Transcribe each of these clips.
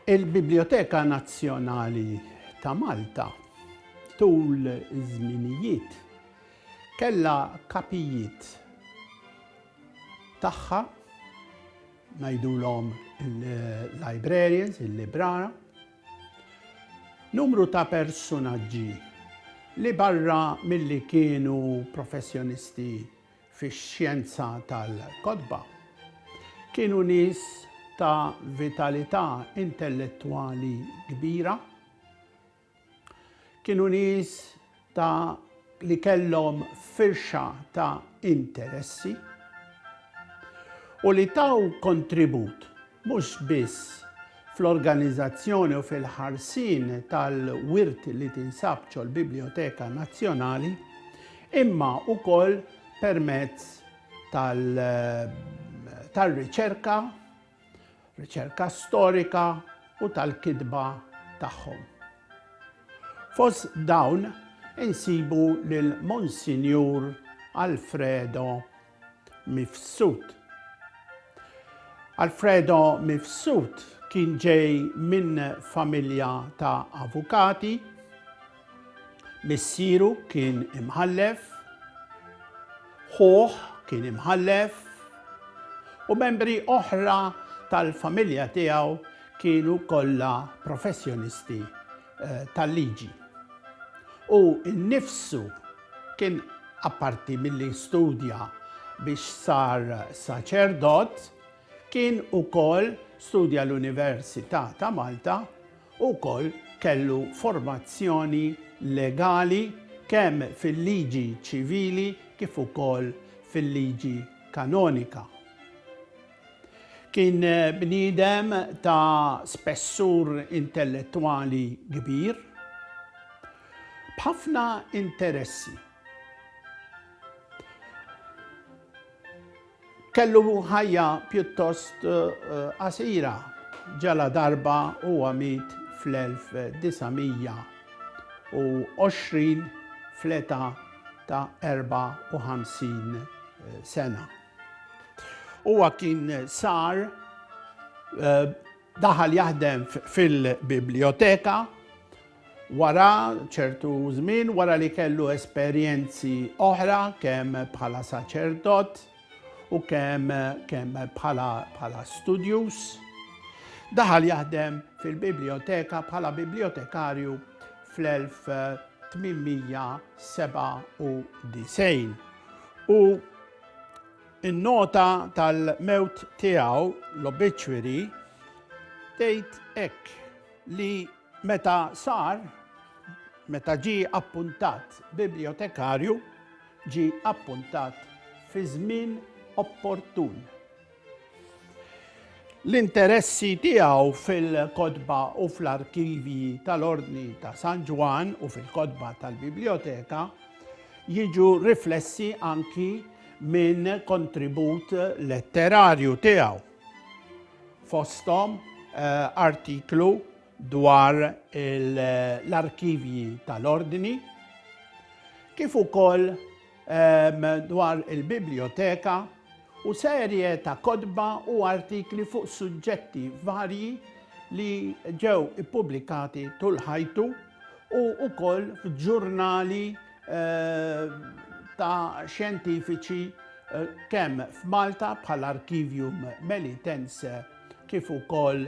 Il-Biblioteka Nazzjonali ta' Malta tul iż-żminijiet kellha kapijiet tagħha ngħidulhom il-librarians, il-librara, Numru ta' persunaġġi li barra milli kienu professjonisti fix-xjenza tal-kotba, kienu nies ta' vitalità intellettwali kbira, kienu nies ta' li kellhom firxa ta' interessi u li taw kontribut mhux biss fl-organizazzjoni u fil-ħarsien tal-wirt li tinsab ċol-Biblioteka Nazzjonali imma ukoll permezz tal-riċerka riċerka storika u tal-kitba tagħhom. Fost dawn insibu lil Monsinjur Alfredo Mifsud. Alfredo Mifsud kien ġej minn familja ta' avukati, Missieru kien imħallef, ħuh kien imħallef, u membri oħra tal-familja tiegħu kienu kollha professjonisti eh, tal-liġi. U nnifsu kien apparti milli studja biex sar saċerdot, kien ukoll studja l-Università ta' Malta Hu wkoll kellu formazzjoni legali kemm fil-liġi ċivili kif ukoll fil-liġi kanonika. Kien bniedem ta' spessur intellettwali kbir, b'ħafna interessi. Kellu ħajja pjuttost qasira, ġaladarba huwa miet fl-1920 fl-età ta' 54 sena. Huwa kien sar daħal jaħdem fil-biblioteka, Wara ċertu żmien, wara li kellu esperjenzi oħra kemm bħala saċerdot u kemm kemm bħala bħala studjus, daħal jaħdem fil-biblioteka bħala bibliotekarju fl-1897 u in-nota tal-mewt tiegħu l-obituary tgħid hekk li Meta sar, meta ġie appuntat bibljotekarju, ġie appuntat fi żmien opportun. L-interessi tiegħu fil-kotba u fl-arkivji tal-Ordni ta' San Ġwann u fil-kotba tal-Biblioteka jiġu riflessi anki minn kontribut letterarju tiegħu. fosthom artiklu dwar l-arkivji tal-Ordni, kif ukoll dwar il-Bibljoteka u serje ta' kotba u artikli fuq suġġetti varji li ġew ippubblikati tul ħajtu u wkoll f'ġurnali ta' xjentifiċi kemm f'Malta bħal Arkivium Melitense kif ukoll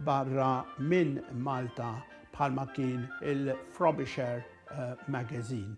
barra minn Malta bħalma kien il-Frobisher Magazine.